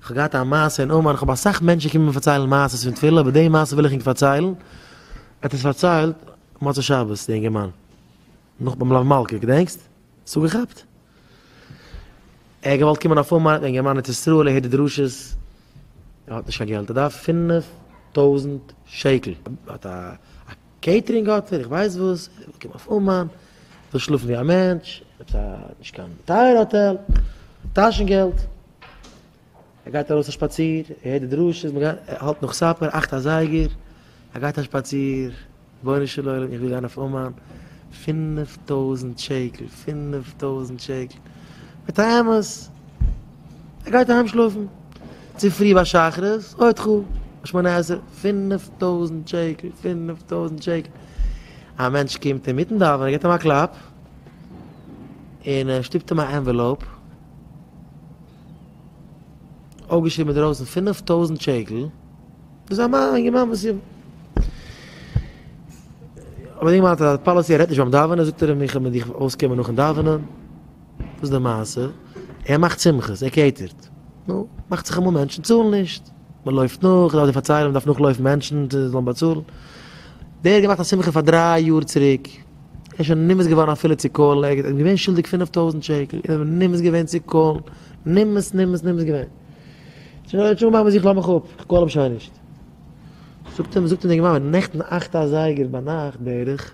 כ'האב געהאט א מעשה אין אומאן, כ'האב אסאך מענטשן קומען מיר פארציילן מעשה'ס פון תפילה, אבער די מעשה וויל איך ענק פארציילן, ער האט עס פארציילט מוצאי שבת, די אינגערמאן, נאך ביים לאו מלכה, געדענקסט? האסט אפגעכאפט? ער האט געוואלט קומען אויף אומאן, אינגערמאן ארץ ישראל, ער הערט די דרשות, ער האט נישט קיין געלט, ער דארף פֿינף טויזנט שקל, ער האט א. קעיטערינג האט ער, איך ווייס וואס, ער וויל קומען אויף אומאן, וויל שלאפן ווי א מענטש, עפעס א נישט קיין טייערע האטעל, טאשן געלט, ער גייט ארויס א שפאציר, ער הערט די דרשות, מען גייט, ער האלט נאך סאפער, אכט אזייגער, ער גייט א שפאציר, רבונו של עולם איך וויל גיין אויף אומאן, פינף טויזענט שקל, פינף טויזענט שקל, מיט א אמת, ער גייט אהיים שלאפן. צופרי ביי שחרית עוד חו א שמונה עשרה פינף טויזנט שקל פינף טויזנט שקל א מענטש קומט אינמיטן דאווענען גיבט אים א קלאפ און ער שטופט אים א ענוועלאופ אויפגעשריבן אינדערויסן פינף טויזנט שקל דאס א מאן א מאן וואס איז אבער די גמרא האט א פאליסי ער רעדט נישט ביים דאווענען זאגט ער אים איך וועל מיט דיך אויסקומען נאכן דאווענען וואס איז די מעשה? ער מאכט שמחות, ער קעיטערט. נו, מאכט זיך אמאל מענטשן צאלן נישט. מען לויפט נאך, איך דארף דיר פארציילן, מען דארף נאכלויפן מענטשן זיי זאלן באצאלן. דער האט געמאכט א שמחה פאר דריי יאר צוריק, ער איז שוין נמאס געווארן אפילו צו קאלן, ער איז געווען שולדיג פינף טויזנט שקל, ער איז נמאס געווען צו קאלן, נמאס נמאס נמאס געווען. ער האט שוין געמאכט מיט זיך לאמיך אפ, איך קאל אים שוין נישט. זאגט אים זאגט אים די גמרא, נעכטן אכט אזייגער ביינאכט בערך,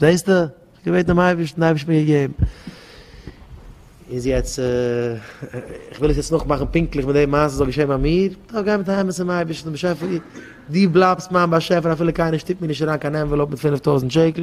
זעסטו? איך האב געבעטן דעם אייבערשטן, דער אייבערשטן האט מיר געגעבן. איז יעצט, איך וויל עס יעצט נאכמאכן פונקטליך מיט די מעשה וואס איז געשען ביי מיר, איך גיי מיט א אמת צום אייבערשטן, באשעפער, דו בלייבסט מיין באשעפער אפילו קיינער שטופט מיר נישט אריין קיין ענוועלאופ מיט פינף טויזנט שקל,